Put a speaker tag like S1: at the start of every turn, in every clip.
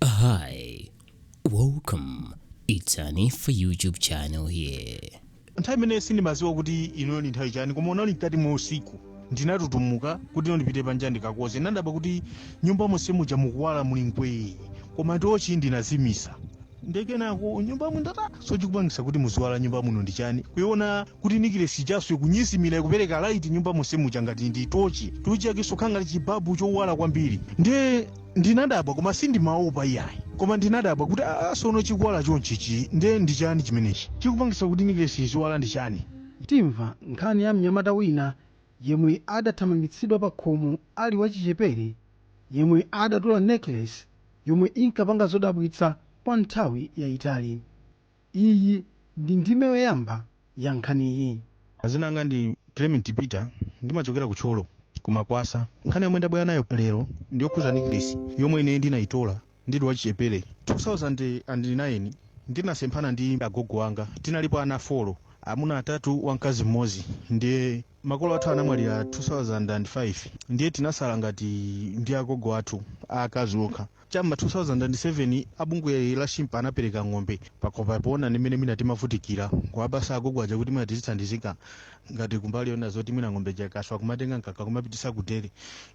S1: Hi, welcome. It's an Info YouTube channel here. nthawi imeneyo
S2: sindimadziwa kuti ino ndi nthawi chani koma unali mkati mwa usiku ndinatutumuka kuti no ndipite panja ndikakoze ndinadabwa kuti nyumba monse muja mukuwala muli mbwee koma tochi ndinazimisa nde kenako m'nyumbamo ndinati aa so chikupangisa kuti muziwala nyumba muno ndi chani kuiona kuti nikilesi ijanso kunyezimira ikupeleka laiti nyumba monse muja ngati ndi tochi tochi yake sokhala ngati chibabu chowala kwambiri nde ndinadabwa koma sindimaopa iyayi koma ndinadabwa kuti aa sono chikuwala chonchichi nde ndi chani chimenechi chikupangisa kuti nikilesi iziwala ndi chani Timva
S3: nkhani ya mnyamata wina yemwe adathamangitsidwa pa khomo ali wachichepere yemwe adatola necklace yomwe inkapanga zodabwitsa kwa nthawi yaitali. Iyi ndi ndime yoyamba ya nkhaniyi. Dzinanga
S2: ndi Clement Peter ndimachokera ku Thyolo ku Makwasa. Nkhani yomwe ndabwera nayo lero ndi yokhuza necklace yomwe ine ndinayitola ndili wachichepele. 2009 ndinasemphana ndi agogo anga tinalipo ana four amuna atatu wamkazi mmodzi ndiye makolo athu anamwalira 2005 ndiye tinasala ngati ndi agogo athu aakazi okha. Cha m'ma 2007 a bungwe la Shimpa anapereka ng'ombe pakhomopo poona ndi mmene mwina timavutikira. N'kuwapatsa agogo aja kuti mwina tizithandizika ngati kumbali yonena zoti mwina ng'ombe ija ikaswa kumatenga mkaka kumapititsa ku dairy.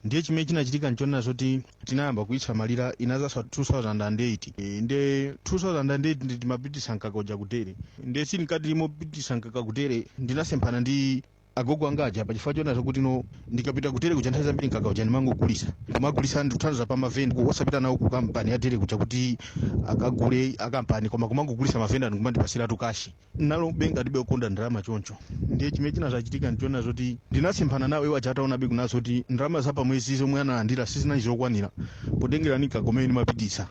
S2: Ndiye chimene chinachitika n'chonena zoti tinayamba kuitsamalira, inadzaswa 2008. Eh, Nde 2008 ndi timapititsa mkaka uja ku dairy. Nde sitili mkati mopititsa mkaka ku dairy ndinasemphana ndi Agogo anga aja pachifukwa chonena zokuti no ndikapita ku dairy kuja nthawi zambiri mkaka uja ndimangogulisa kuwagulisa ndikuthandauza pa mavenda ku- osapita nawo ku kampani ya dairy kuja kuti akagule akampani koma kumangogulisa mavenda ndikumandipasiratu kashi nanga be ndinali okonda ndalama choncho ndiye chimene chinazachitika ndichonena zoti ndinasemphana nawo iwo aja ataonabe kunena zokuti ndalama za pamwezi zomwe analandira sizinali zokwanira potengera ni mkaka omwe ndimapititsa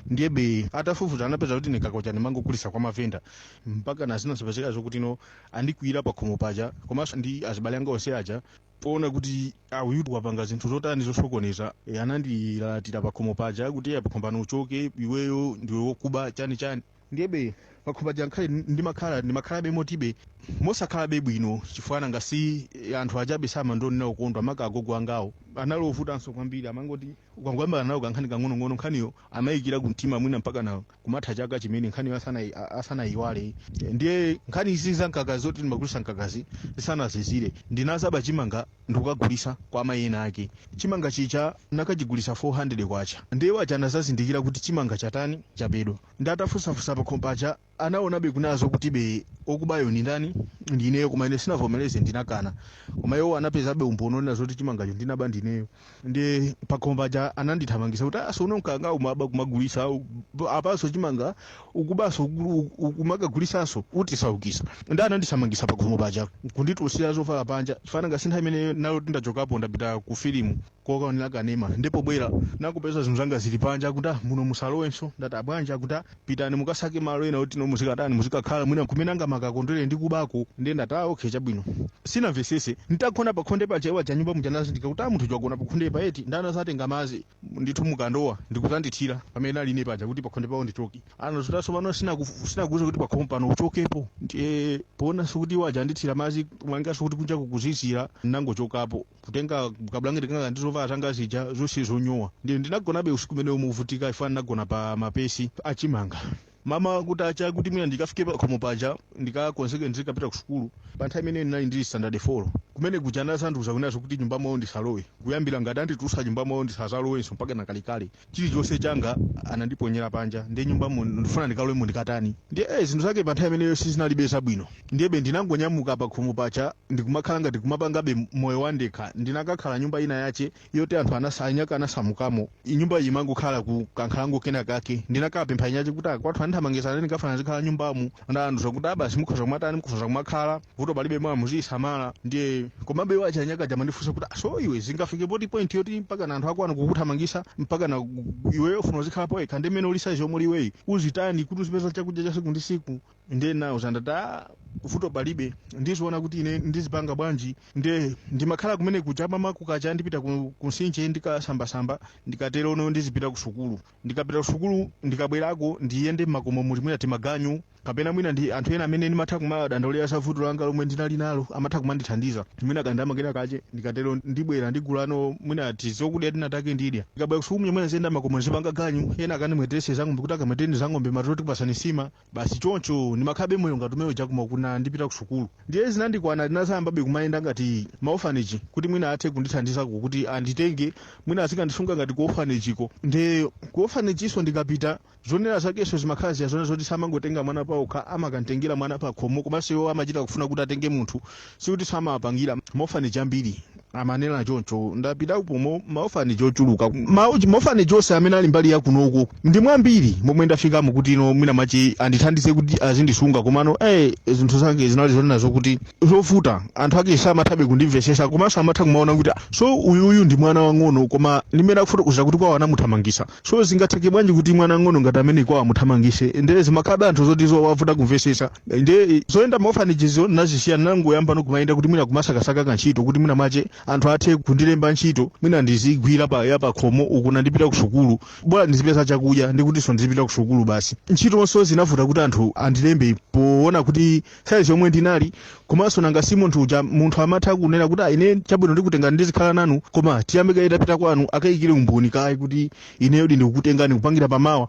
S2: ndiyebe atafufuza anapeza kuti mkaka uja ndimangogulisa kwa mavenda mpaka nazo zinazapezeka zokuti no andikwiyira pakhomo paja komanso ndi azibale anga onse aja poona kuti aa uyutu wapanga zinthu zotani zosokoneza e, anandilalatira pakhomo paja kuti Eya pakhomo pano uchoke iweyo ndiwe wokuba chani chani ndiyebe pakhomo paja ngakhale ndimakhala ndimakhalabe motibe mosakhalabe bwino chifukwa nanga si e, anthu ajabe samandiona okondwa maka agogo angawo anali ovutanso kwambiri amangoti ukangoyambana nawo kankhani kang'onong'ono nkhaniyo amayikira kumtima mwina mpaka nawo kumatha chaka chimene nkhaniyo asanayi- a- asanayiwale ndiye nkhani izi za mkaka zoti ndimagulisa mkakazi zisanazizire ndinazaba chimanga ndikukagulisa kwa amayi ena ake chimanga chija ndinakachigulisa 400 kwacha ndiye iwo aja anazazindikira kuti chimanga chatani chabedwa nde atafunsafunsa pakhomo paja anaonabe kunena zokuti be okubayo ndi ndani ndineyo koma ine sindinavomereze ndinakana koma iwo anapezabe umboni onena zoti chimangacho ndinaba ndineyo ndi pakhomo paja anandithamangisa kuti ah so unkangomaba kumagulisa u- apaso chimanga ukubaso uku- u- ukumakagulisanso utisaukisa ndi anandithamangisa pakhomo paja kunditulutsira zovala panja chifukwa ngati nthawi imene ndinali nditachokapo ndapita ku filimu kokaonera kanema ndiye pobwera ndakapeza zinthu zanga zili panja kuti "Ah, muno musalowenso ndati abwanja kuti "Ah, pitani mukasake malo ena oti no muzikatani muzikakhala mwina nkumene angamakakondwe ndi kubako ndiye ndati ah okay chabwino sinamvesese nditagona pakhonde paja iwo aja nyumba muja anazindikira kuti ah munthu uja wagona pakhonde pa eti nde anazatenga madzi ndithu mukandowa ndikuzandithira pamene ndinali ine paja kuti pakhonde pawo ndichoke anati ukutaniso pano sinaku- sinakuuza kuti pakhomo pano uchokepo ndiye poonanso kuti iwo aja andithira madzi mwinanso kuti kunja kukuzizira nangochokapo kutenga kabulangeti kanga ndi zovala zanga zija zonse zonyowa ndiye ndinagonabe usiku umenewo movutika chifukwa ndinagona pa mapesi achimanga mmawa kutacha kuti mwina ndikafike pakhomo paja ndikakonzeke ndizikapita ku sukulu pa nthawi imeneyo ndinali ndili standard 4 kumene kuja anazandiuza kunena zokuti nyumba mwawo ndisalowe kuyambira ngati anditulusa nyumba mwawo ndisazalowenso mpaka kalekale chilichonse changa anandiponyera panja ndiye nyumba mu ndifuna ndikalowemo ndikatani ndiye eh, zinthu zake pa nthawi imeneyo sizinalibe zabwino ndiyebe ndinangonyamuka pa khomo paja ndikumakhala ngati kumapangabe moyo wandekha ndinakakhala nyumba ina yake yoti anthu anasa- anyaka anasamukamo nyumba iyi imangokhala ku kankhalango kena kake ndinakapempha eni ake kuti akwathu andithamangisa ndikufuna ndizikhala nyumbamu nde anandiuza kuti ah basi mukhoza kumatani mukhoza kumakhala vuto palibe bola muziyisamala ndiye komabe iwo aja anyakaja amandifunsa kuti "Ah, so iwe zingafike pati point yoti mpakana anthu akwanu kukuthamangisa mpakana gu- iweyo ufuna uzikhala poyekha ndi mmene uli size yomwe uli iweyi uzitani kuti uzipeza chakudya cha siku ndi siku ndiye ndinawauza ndati "Ah, vuto palibe ndiziona kuti ine ndizipanga bwanji nde ndimakhala kumene kuja mmawa kukacha ndipita ku, ku nsinje ndikasambasamba ndikatero no ndizipita ku sukulu Ndikapita kusukulu, ndikabwerako ndiyende m'makomo muli mwina timaganyu kapena mwina ndi anthu ena amene ndimatha kumawadandaulira za vuto langa lomwe ndinali nalo, amatha kumandithandiza. Mwina kandalama kena kache, ndikatero ndibwera ndigulano mwina tizokudya tina take ndidya. Ndikabwera kusukulu mwina ndiziyenda m'makomo ndizipanga ganyu, ena akandimweteretse zang'ombe kuti akamwetereni zang'ombe madzulo tikupasani nsima. basi choncho ndimakhalabe moyo ngati umene uja koma kwina ndikupita ku sukulu ndiye zinandikwana ndinazayambabe kumayenda ngati ma orphanage kuti mwina athe kundithandizako kuti anditenge mwina azikandisunga ngati ku orphanage-ko nde ku orphanage-so ndikapita zonena zakenso zimakhala zija zonena zoti samangotenga mwana payekha amakamtengera mwana pakhomo komanso iwo amachita kufuna kuti atenge munthu Sikuti samawapangira ma orphanage ambiri amanena choncho ndapitapo mu ma orphanage ochuluka ma orphanage onse amene ali mbali yakunoko ndi mwambiri momwe ndafikamo kuti no mwina mwake andithandize kuti azindisunga komano eh zinthu zake zinali zonena zokuti zovuta anthu ake samathabe kundimvesesa komanso amatha kumaona kuti ah, so uyuyu ndi mwana wang'ono koma ndimene akufotokozera kuti kwawo anamuthamangisa So zingatheke bwanji kuti mwana wang'ono ngati amene kwawo amuthamangise nde zimakhalabe anthu zoti zowavuta kumvesetsa nde zoyenda maorphanagezo nazisiya nangoyambano kumayenda kuti mwina kumasakasaka kantchito kuti mwina mwache anthu athe kundilemba ntchito mwina ndizigwira pa ya pakhomo uku nandipita ku sukulu bora ndizipeza chakudya ndikutinso ndizipita ku sukulu basi ntchitonso zinavuta kuti anthu andilembe poona kuti size yomwe ndinali komanso nanga si munthu uja munthu amatha kunena kuti "Ah, ine chabwino ndikutengani ndizikhala nanu koma tiyambe kaye tapita kwanu akayikire umboni kaye kuti ineyodi ndikukutengani kupangira pamawa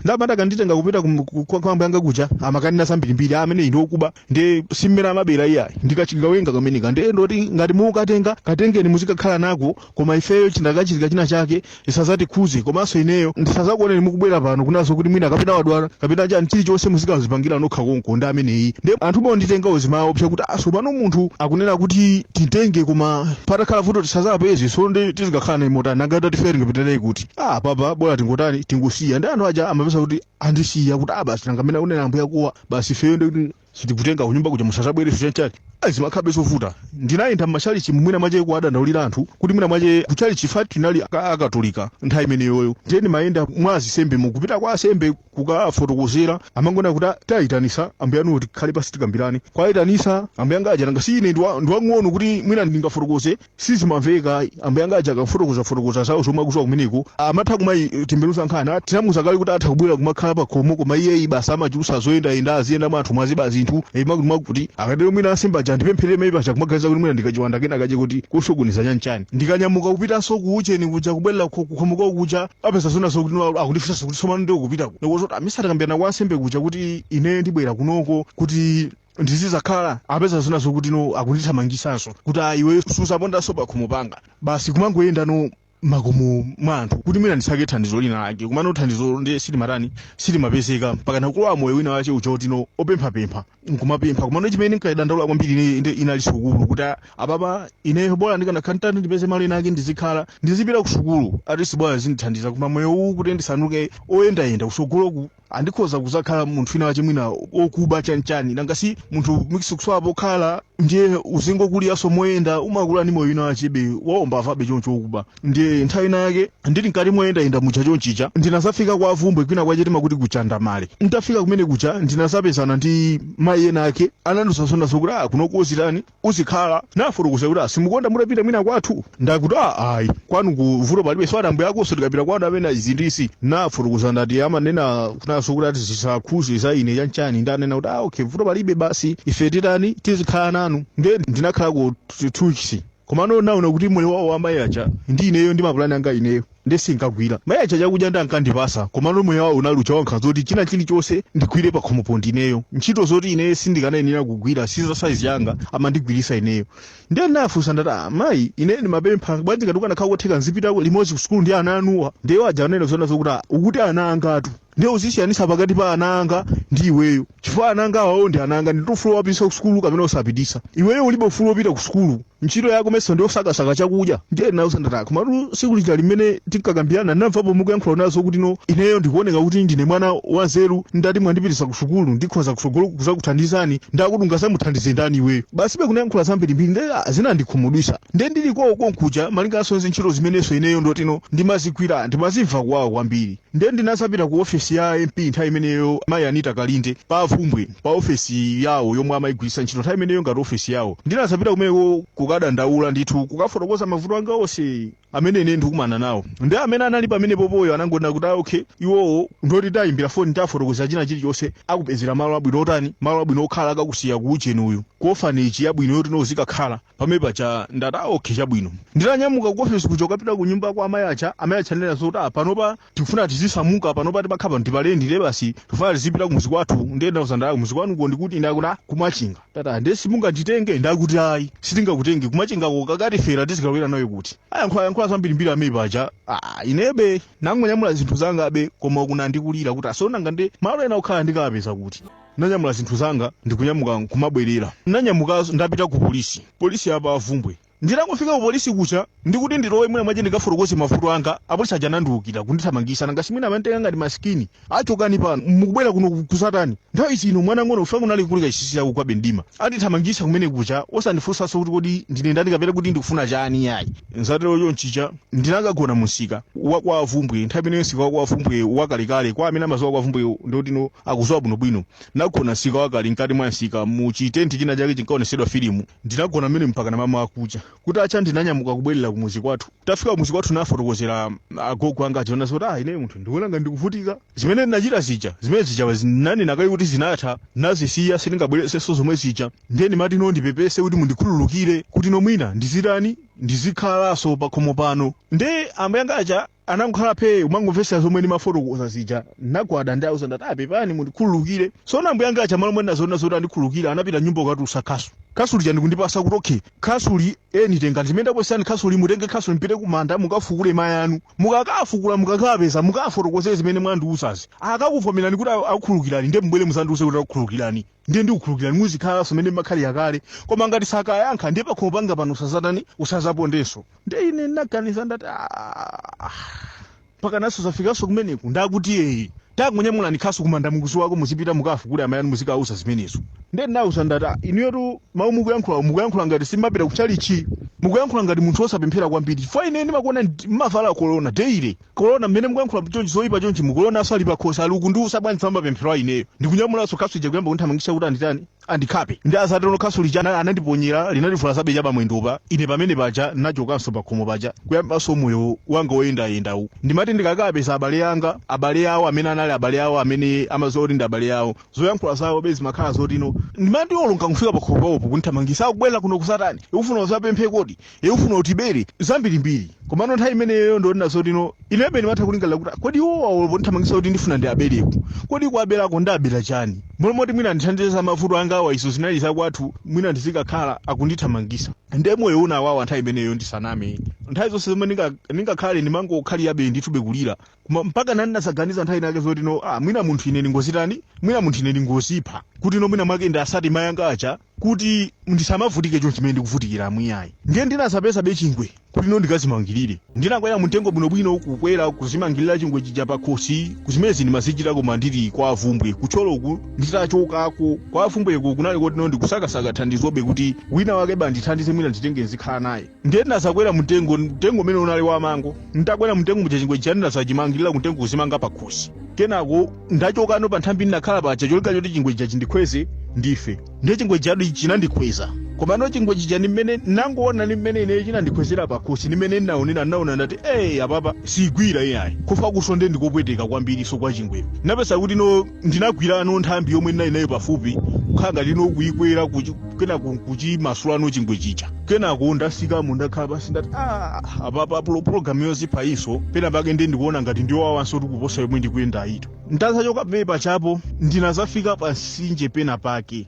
S2: nde amati akanditenga kupita kum- ku- kwa kwa ambuye anga kuja amakanena zambirimbiri ameneyi ndi okuba nde si mmene amabera iyayi ndikachigawenga kameneka ndiye ndoti ngati mukatenga katengeni muzikakhala nako Koma ifeyo chinakachitika china chake zisazatikhuze komanso ineyo ndisazakuoneni mukubwera pano kunena zokuti mwina kapena wadwala kapena chani chilichonse muzikazipangira nokha konko ndi ameneyi nde anthu monditengawo zimawaopsa kuti ah sopano munthu akunena kuti timtenge koma patakhala vuto tisazapezeso nde tizikakhala naye motani nanga atatifera tingapite naye kuti apapa bola tingotani tingosiya nde anthu aja amapeza kuti andisiya kuti ah basi nanga amene akunena ambuya akowa basi ifeyo ndi sitikutenga kunyumba kuja musazabwereso chanchani Ayi, zimakhabe zovuta ndinayenda m'machalichi mwina mwache kuwadandaulira anthu kuti mwina mwache kuchalichi fati tinali aka- akatolika nthawi imeneyoyo ndiye ndimayenda mwa azisembemu kupita kwa asembe kukafotokozera amangona kuti "Ah, tayitanisa ambuye anuwo tikhale pasi tikambirane kuwayitanisa ambuye anga aja nanga si ine ndiwa- ndiwang'ono kuti mwina ndingafotokoze Sizimamveka ayi. Ambuye anga aja akafotokoza fotokoza zawo zomwe akuziwa kumeneko amatha kumayitembenuza nkhani. Ati tinamuza kale kuti atha kubwera kumakhala pakhomo koma iyeyi basi amachulusa zoyenda yenda aziyenda mwa anthumu aziba zinthu eyi mwakuti mwakuti. Akatero mwina ansembe aja andipempherere mayi paja kumaganiza kuti mwina ndikachiwanda kena kache koti kosokoneza chani chani. Ndikanyamuka kupitanso ku ujeni kuja kubwerera ku khomo kwawo kuja apeza zona zokuti no akundifunsanso kuti tsopano ndiye ukupita ku. Ndikuwauza kuti ah mesa takambirana kwa ansembe kuja kuti ineyo ndibwera kunoko kuti ndizizakhala apeza zona zokuti no akundithamangisanso kuti a iwe suzapondanso pakhomo panga basi kumangoyendano mmakomo mwa anthu kuti mwina ndisake thandizo lina lake komano thandizo nde silimatani silimapezeka mpaka nakulowa moyo wina wache uja kuti no opemphapempha nkumapempha komano chimene nkadandaula kwambiri ine- ine- inali sukulu kuti a- apapa ineyo bora ndikanakhantani ndipeze malo ena ake ndizikhala ndizipita ku sukulu at least bora zindithandiza koma moyo uwu kuti ndisanduke oyendayenda kusogoloku ah ndikhoza kuzakhala munthu wina wache mwina okuba chanchani nanga si munthu means ukusowa pokhala ndiye uzingokuliranso moyenda umakula ndi moyo wina wachebe waumbavabe choncho okuba ndiye nthawi ina yake ndili mkati moyendayenda muja chonchija ndinazafika kwa Bvumbwe kwina kwache timakuti ku Chandamale nditafika kumene kuja ndinazapezana ndi mayi ena ake anandiuza zona zokuti a kunoko uzitani uzikhala nafotokoza kuti ah simukonda mutapita mwina kwathu nda kuti ah ayi kwanuko vuto palibe so ati ambuya akonso tikapita kwanu amene izi ndi izi nafotokoza ndati amanena kunena zokuti ati zisakhuze za ine chanchani ndanena kuti ah okay vuto palibe basi ife titani tizikhala nanu nde ndinakhalako two weeks komano naona kuti moyo wawo wa mayi aja ndi ineyo ndi mapulani anga ineyo nde sinkagwira. Mai aja chakudya nde ankandipatsa komano moyo wawo unali uja wankhanza oti china chilichonse ndigwire pakhomopo ndineyo. Ntchito zoti ineyo sindikanayenera kugwira si za size yanga amandigwiritsa ineyo. Nde ndinawafunsa ndati ah mai ineyo ndimapempha bwanji ngati kukanakhala kotheka nzipitako limodzi ku sukulu ndi ana anuwa. Nde iwo aja ananena zoona zokuti ah ukuti ana angatu nde uzisiyanisa pakati pa ana anga ndi iweyo chifukwa ana anga awawo ndi ana anga ndili ndi ufulu owapititsa ku sukulu kapena osapititsa. Iweyo ulibe ufulu wopita ku sukulu. ntchito yako mesa ndiyosakasaka chakudya ndiye ndinawauza ndati ayi komatu siku lija limene tinkakambirana ndinamvapo mukuyankhula ndinawauza kuti no ineyo ndikuoneka kuti ndine mwana wanzeru ngati mwandipititsa ku sukulu ndikhoza kutsogolo kudzakuthandizani ndakuti ungadzamuthandize ndani iweyo basi be anayankhula zambirimbiri nde ah, zinandikhumudwitsa nde ndili kwawo konkuja malinganso ndi ntchito zimenenso ineyo ndikuti no ndimazigwira ndimazimva kuwawa kwambiri nde ndinadzapita ku ofesi ya mp nthawi imeneyo mayi anita kalinde pa bvumbwe pa ofesi yawo yomwe amayigwiritsa ntchito nthawi imeneyo ngati ofesi yawo ndinadzapita kumeneko kukadandaula ndithu kukafotokoza mavuto anga onse amene ine ndikumana nawo ndi amene anali pamenepopoyo anangonena kuti ah, okay iwowo ndoti tayimbira foni tafotokoza china chilichonse akupezera malo abwino otani malo abwino okhala akakusiye ku ujeni uyu ku orphanage yabwino yoti no uzikakhala pamene paja ndati ah, okay chabwino nditanyamuka ku ofesi kuja kukapita ku nyumba kwa amayi aja amayi aja anena zoti ah, panopa tikufuna tizisamuka panopa timakhala pano ndi pa lendi basi tikufuna tizipita kumudzi kwathu ndiye ndinawauza ndati ah kumudzi kwanuko ndikuti ndakuti ku machinga ndati ah ndiye simunganditenge ndakuti ayi sitingakutenge ku machingako kukatifera tizikabwera nayo kuti ayankhula yankhula zambirimbiri pamene paja ah, inebe nangonyamula zinthu zanga abe koma kwina ndikulira kuti ah tsono nanga nde malo ena okhala ndikawapeza kuti nanyamula zinthu zanga ndikunyamuka kumabwerera nanyamuka zoona ndapita ku polisi polisi ya pa bvumbwe Nditangofika ku polisi kuja, ndikuti ndilowe mwina mwake ndikafotokoze mavuto anga, apolisi aja anandiukira, kundithamangisa, nanga simwina amanditenga ngati masikini, ah chokani pano, mukubwera kuno kudzatani? Nthawi zino mwana wamng'ono kufika kunali kuli kachisisira kukugwabe mdima, andithamangisa kumene kuja osandifunsanso kuti kodi ndine ndani kapena kuti ndikufuna chani yayi. Zatero chonchija, ndinakagona mu msika wa kwa Bvumbwe, nthawi imene msika wa kwa Bvumbwe wakalekale, kwa amene amadziwa kwa Bvumbwe ndikuti no akudziwa bwinobwino, nagona msika wakale, mkati mwa msika, mu chi tenti china chake chinkaonetsedwa filimu, Ndinagona m'menemo mpakana mamawa kucha. Kutacha ndinanyamuka kubwerera kumudzi kwathu. Tafika kumudzi kwathu ndinafotokozera agogo anga aja zonena zoti, ah ineyo munthu ndikuona ngati ndikuvutika. Zimene ndinachita zija, zimene zija ndinanena kale kuti zinatha, ndinazisiya sindingabwerezenso zomwe zija. Ndiye ndimati no ndipepese kuti mundikhululukire kuti no mwina ndizitani, ndizikhalanso pakhomo pano. Ndiye ambuye anga aja anangokhala phee kumangomvetsera zomwe ndimafotokoza zija ndinagwada ndikuwauza ndati ah pepani mundikhululukire tsono ambuyanga aja m'malo monena zoona zoti andikhululukira anapita m'nyumba kukatulutsa khasu khasu lija ndikundipatsa kuti okay khasu ili eni tengani chimene ndakupatsani khasuli mutenge khasuli mupite kumanda mukafukule mayi anu mukakawafukula mukakawapeza mukawafotokozere zimene mwandiuzazi akakakuvomerani kuti akukhululukirani ndiye mubwere mudzandiuze kuti akukhululukirani ndiye ndikukhululukirani muzikhalanso mene makhalira kale koma ngati sakayankha ndiye pakhomo panga pano usazatani usazapondenso ndiye ine ndinaganiza ndati "Ah, mpaka naso zafikanso kumeneku ndakuti eyi tangonyamulani khasu kumanda mukuziwako muzipita mukafukule amayi anu muzikawauza zimenezo ndiye ndinawauza ndati "Ah, inuyotu mawu mukuyankhulawo mukuyankhula ngati simapita kutchalitchi mukuyankhula ngati munthu wosapemphera kwambiri chifukwa ine ndimakuonani mmavala korona deile kolona mmene mukuyankhula chonchi zoyipa chonchi mukolonaso ali pakhosi ali akundiuza bwanji famba pemphero aa ineyo ndikunyamulaso khasu lija kuyamba kunthamangisa kuti anditani andikhape nde atatero khasu lija ana- anandiponyera linandivulazabe cha pamwendopa ine pamene paja nachokanso pakhomo paja kuyambanso moyo wanga woyendayendawu ndimati ndikakapeza abale anga abale awo amene anali abale awo amene amaziwa kuti ndi abale awo zoyankhula zawo be zimakhala zotino ndimati olo ndikafika pakhomo pawopo kunthamangisa ukubwera kuno kuzatani ukufuna uzapemphe kodi Iwe ufuna utibere zambirimbiri. Komano nthawi imeneyoyo ndikunena zotino, inebe ndimatha kulingalira kuti, kodi iwowa olo ponthamangitsa kuti ndifuna ndiwabereku, kodi kuwaberako ndabera chani? Mmalo moti mwina andithandize za mavuto angawa izo zinali za kwathu, mwina ndizikakhala akundithamangitsa. Nde moyo unawawa nthawi imeneyoyo ndisaname. Nthawi zonse zomwe ndinga ndingakhale ndimangokhalirabe ndithube kulira. Koma mpakana ndinazaganiza nthawi inayake zotino, ah, mwina munthu ine ndingozitani, mwina munthu ine ndingozipha. Kutino mwina mwake ndiwasate mai anga aja. kuti ndisamavutike chonchi mmene ndikuvutikiramu iyayi ndiye ndinazapezabe chingwe kuti no ndikazimangirire ndinakwera mumtengo bwinobwino kukwera kuzimangirira chingwe chija pakhosi koma zimenezi ndimazichita koma ndili kwa Bvumbwe ku Thyoloku nditachokapo kwa Bvumbweko kunali koti no ndikusakasaka thandizobe kuti wina wakebe andithandize mwina anditenge nzikhala naye ndiye ndinazakwera mmtengo mtengo umene unali wamango nditakwera mmtengo muja chingwe chija ndinazachimangirira kumtengo kuzimanga pakhosi kenako ndachokano pa nthambi ndinakhala paja cholinga choti chingwe chija chindikhweze ndife ndiye chingwe chija chinandikhweza komano chingwe chija ndi mmene nangoona ndi mmene ineyo chinandikhwezera pakhosi ndi mmene ndinaonera ndinaona ndati eyi apapa sizigwira iyayi kufa kukusonde ndikopweteka kwambiriso kwa chingweyo napeza kuti no ndinagwirano nthambi yomwe ndinali nayo pafupi kukhala ngati ino kuikwera kuchi- kenako kuchimasulano chingwe chija kenako ndasikamo ndakhala pasi ndati "Ah, apapa pulo- pulogalamu yoziphayiso pena pake ndi ndikuona ngati ndiyowawanso kuti kuposa yomwe ndikuyendayitu nditachoka pamene pajapo ndinazafika pamsinje pena pake